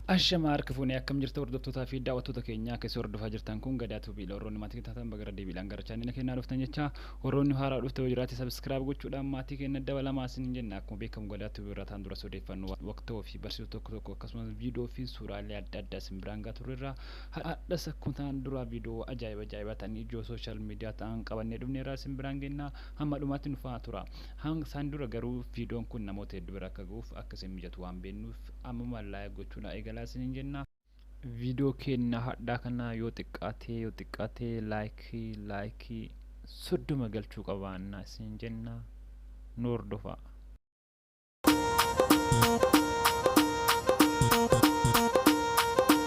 Ashama harka fuune akkam jirta hordoftoota fi daawwattoota keenya akka isin hordofaa jirtan kun gadaa tuubii dha warroonni maatii taatan bagara deebiidhaan gara chaanila keenyaa dhuftan jecha warroonni haaraa dhufte yoo jiraate sabiskiraayib gochuudhaan maatii keenya dabalamaa isin hin jenna akkuma beekamu gadaa tuubii irraa taan duras odeeffannoo waqtoo fi barsiisuu tokko tokko akkasumas viidiyoo fi suuraalee adda addaa isin biraan gaa turreerra hadhas akkuma taan duraa viidiyoo ajaa'iba ajaa'iba ta'an ijoo sooshaal miidiyaa ta'an qabannee dhufneerraa isin biraan geenna hamma dhumaatti nufaa tura hanga isaan dura garuu viidiyoon kun namoota hedduu bira akka ga'uuf akka isin mijatu waan beennuuf Ammumaan like gochuu naa eegalaa isiniin jenna. Viidiyoo keenna hadhaa kana yoo xiqqaatee yoo xiqqaatee like like soddoma galchuu qabaanna isiniin jenna nu hordofaa.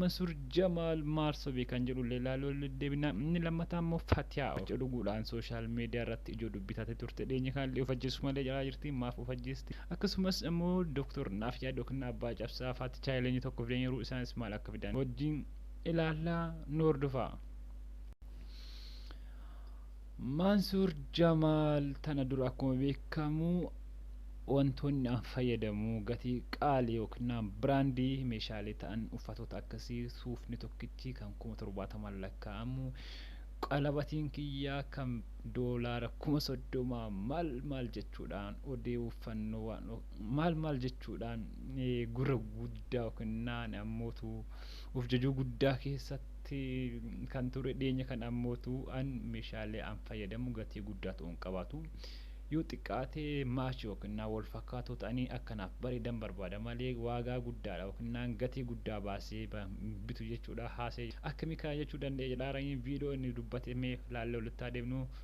Mansuur Jamaal maal sobe kan jedhu illee ilaaluu irra deddeebina. Inni lammataa immoo Fatiyaa of dhuguudhaan sooshaal miidiyaa irratti ijoo dubbii taatee turte. Dhiyeenya kana illee of ajjeesuu malee calaa jirti. Maaf of ajjeesti? Akkasumas immoo Doktor Naafyaad ykn Abbaa Cabsaa faa ticha Hayileenyi tokko fidaniiru. Isaanis maal akka fidan wajjin ilaalla. Nu hordofaa. Mansuur Jamaal tana dura akkuma beekamu wantoonni an fayyadamu gatii qaali yookiin biraandii meeshaalee ta'an uffatoota akkasii suufni tokkichi kan kuma torbaatamaan lakkaa'amu qalabatiin kiyyaa kan doolaara kuma soddomaa maal maal jechuudhaan odeeffannoo waan maal maal jechuudhaan gurra guddaa yookiin ammootu Of jajuu guddaa keessatti kan ture dhiyeenya kana ammootu an meeshaalee an fayyadamu gatii guddaa ta'u hin qabaatu. Yoo xiqqaate match yookinnaa wal fakkaatoo ta'anii akka naaf bareedan barbaada malee waagaa guddaadha yookinnaan gatii guddaa baasee hin bitu jechuudha haasee akkamii kana jechuu danda'e jedhaaranii viidiyoo inni dubbate mee laallee walitti haa deebinu.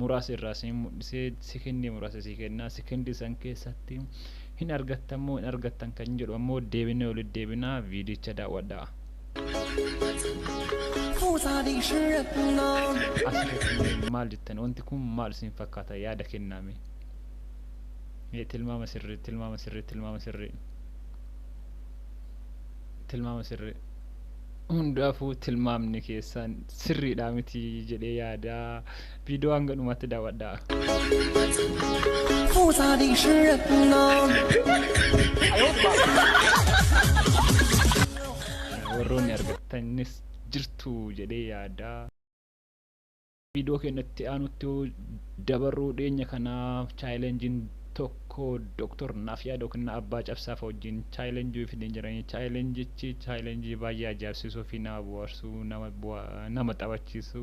muraasa irraa isin mul'isee sekendii muraasa isin kennaa sekendii san keessatti hin argattan moo hin argattan kan jedhu ammoo deebinee walitti deebinaa viidicha daawwadhaa. Asirratti maal jettan wanti kun maal isin fakkaata yaada kennaame tilmaama sirrii tilmaama sirrii tilmaama sirrii tilmaama sirrii. hundaafuu tilmaamni keessan sirriidha miti jedhee yaada viidiyoo hanga dhumaatti daawwadhaa. warroonni argattanis jirtu jedhee yaada. Viidiyoo keenya itti aanutti yoo dabarruu dhiyeenya kana chaayilenjiin tokko Dooktor Naafyaad yookiin Abbaa Cabsaa fa'a wajjin chaayilenjii fidanii jiranii chaayilenjichi chaayilenjii baay'ee ajaa'ibsiisuu fi nama bohaarsu nama bu'a- nama taphachiisu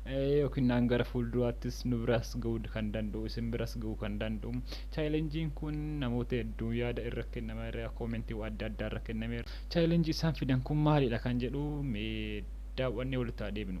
eh, yookiin naan gara fuulduraattis nu biras ga'uu kan danda'u isin biras ga'uu kan danda'u chaayilenjiin kun namoota hedduu yaada irra kennama irra koomentii adda addaa irra kennameera chaayilenjii isaan fidan kun maalidha kan jedhu mee daawwannee walitti haa deebinu.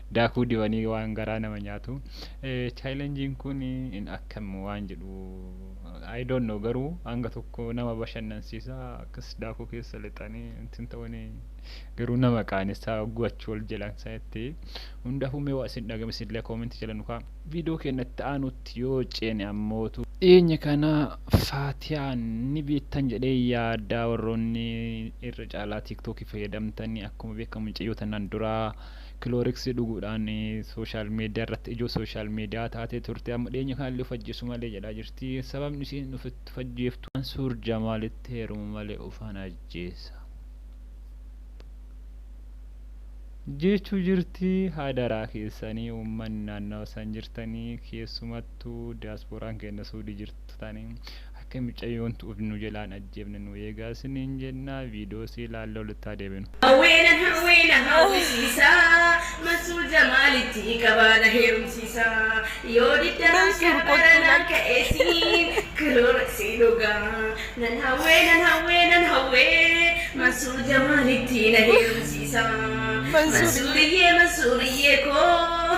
Daakuu dibanii waan garaa nama nyaatu. Chaayilenjiin kun in akkam waan jedhu I don't know garuu hanga tokko nama bashannansiisa akkas daakuu keessa lixanii ittiin ta'uuni garuu nama qaanessaa hogguu achi ol jedhan sanitti hundaafuu mee waa isin dhagame isinillee koomentii jala nukaa viidiyoo keenyatti aanutti yoo ceene ammootu dhiyeenya kana faatiyaan ni beektan jedhee yaadaa warroonni irra caalaa tiiktookii fayyadamtanii akkuma beekamu mucayyoo tanaan duraa Kilooriksii dhuguudhaan sooshaal miidiyaa irratti ijoo sooshaal miidiyaa taatee turte. Amma dhiyeenya kanallee of ajjeesu malee jedhaa jirti. Sababni isiin of itti of ajjeeftu Mansuur Jamaalitti heerumu malee ofan ajjeesa jeechuu jirti. Hadaraa keessanii uummanni naannawa san jirtanii keessumattuu diyaaspooraan keenna Suudii jirtan. Tani akka micayyoon tu'uuf nu jalaa hin ajjeefne nu eegaa isiniin jenna. Viidiyoo sii ilaallee walitti haa deebinu. Hawwiina hawwiina hawwisiisa Mansuur Jamaalitti qabaana heerumsiisa Yoo didda akka baranaan ka'ee siin karoora sii dhugaa Nan hawwee nan hawwee nan hawwee Mansuur Jamaalitti na heerumsiisa Mansuuriyyee Mansuuriyyee koo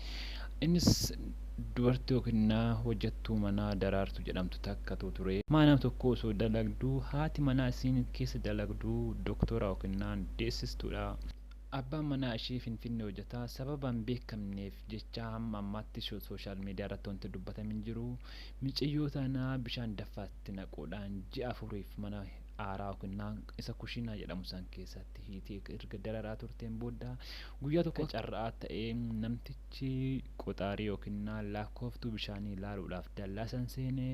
Innis dubartii yookiin na hojjattuu manaa Daraartu jedhamtu takkatu ture. Mana tokko osoo dalagduu haati manaa isiin keessa dalagdu doktora yookiin deessistuudha. Abbaan manaa ishee Finfinnee hojjata. Sababa hin beekamneef jecha hamma ammaatti sooshaal miidiyaa irratti wanti dubbatame hin jiru. Micayyoo tana bishaan daffaatti naquudhaan ji'a afuriif mana aaraa yookiin naan isa kushiinaa jedhamu san keessatti hiitee erga dararaa turteen booda guyyaa tokko carraa ta'ee namtichi qoxaarii yookiin naan laakkooftuu bishaanii ilaaluudhaaf dallaa san seenee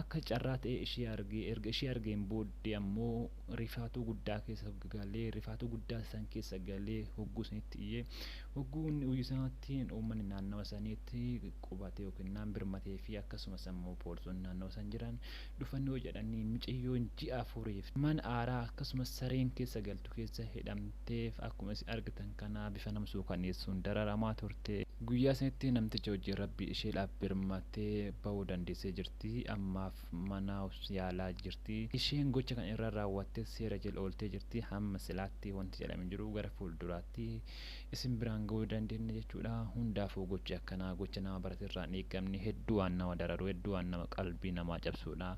akka carraa ta'ee ishee argee erga ishee argeen booddee ammoo rifaatuu guddaa keessa galee rifaatuu guddaa san keessa galee hogguu sanitti iyyee hogguu inni uyyu sanatti uummanni naannawa saniitti qubatee yookiin naan birmatee fi akkasumas ammoo poolisoonni naannawa san jiran dhufanii hojadhanii micayyoon ji'a afuriif mana aaraa akkasumas sareen keessa galtu keessa hidhamteef akkuma isin argitan kanaa bifa nama suukaneessuun dararamaa turte. Guyyaa sanitti namticha wajjin Rabbi isheedhaaf birmatee bahuu dandeessee jirti. Ammaaf mana yaalaa jirti. Isheen gocha kana irra raawwattes seera jala ooltee jirti. Hamma silaatti wanti jedhame hin jiru. Gara fuulduraatti isin biraan ga'uu dandeenna jechuudha. Hundaafuu gochi akkanaa gocha nama barate irraa hin eegamne hedduu waan nama dararu hedduu waan nama qalbii namaa cabsuudha.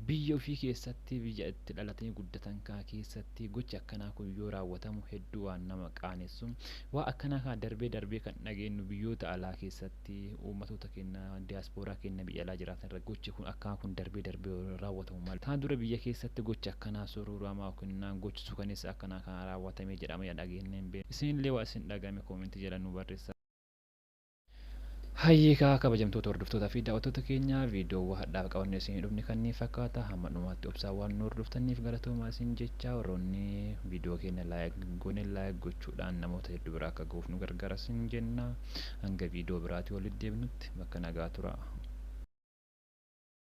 Biyya ofii keessatti biyya itti dhalatanii guddatan kaa keessatti gochi akkanaa kun yoo raawwatamu hedduu waan nama qaanessu. Waa akkanaa kaa darbee darbee kan dhageennu biyyoota alaa keessatti. irratti uummatoota keenya diyaaspooraa keenya biyya alaa jiraatan irratti gochi kun akkanaa kun darbee darbee yoo raawwatamu malee tanaan dura biyya keessatti gochi akkanaa surruuramaa yookiin gochi suukaneessaa akkanaa kana raawwatamee jedhamee dhageennee hin beeknu. Isin illee waan isin dhagahame comment jala nuu barreessaa. Hayyee kaa kabajamtoota hordoftootaa fi daawwattoota keenya viidiyoowwan hadhaaf qabannee isinii dhufne kanneen fakkaata hamma dhumaatti obsaan waan nu hordoftanniif galatoomaa isin jechaa warroonni viidiyoo keenya like hin goone like gochuudhaan namoota hedduu bira akka gahuuf nu gargaara isin jenna. Hanga viidiyoo biraatii walitti deebinutti bakka nagaa turaa.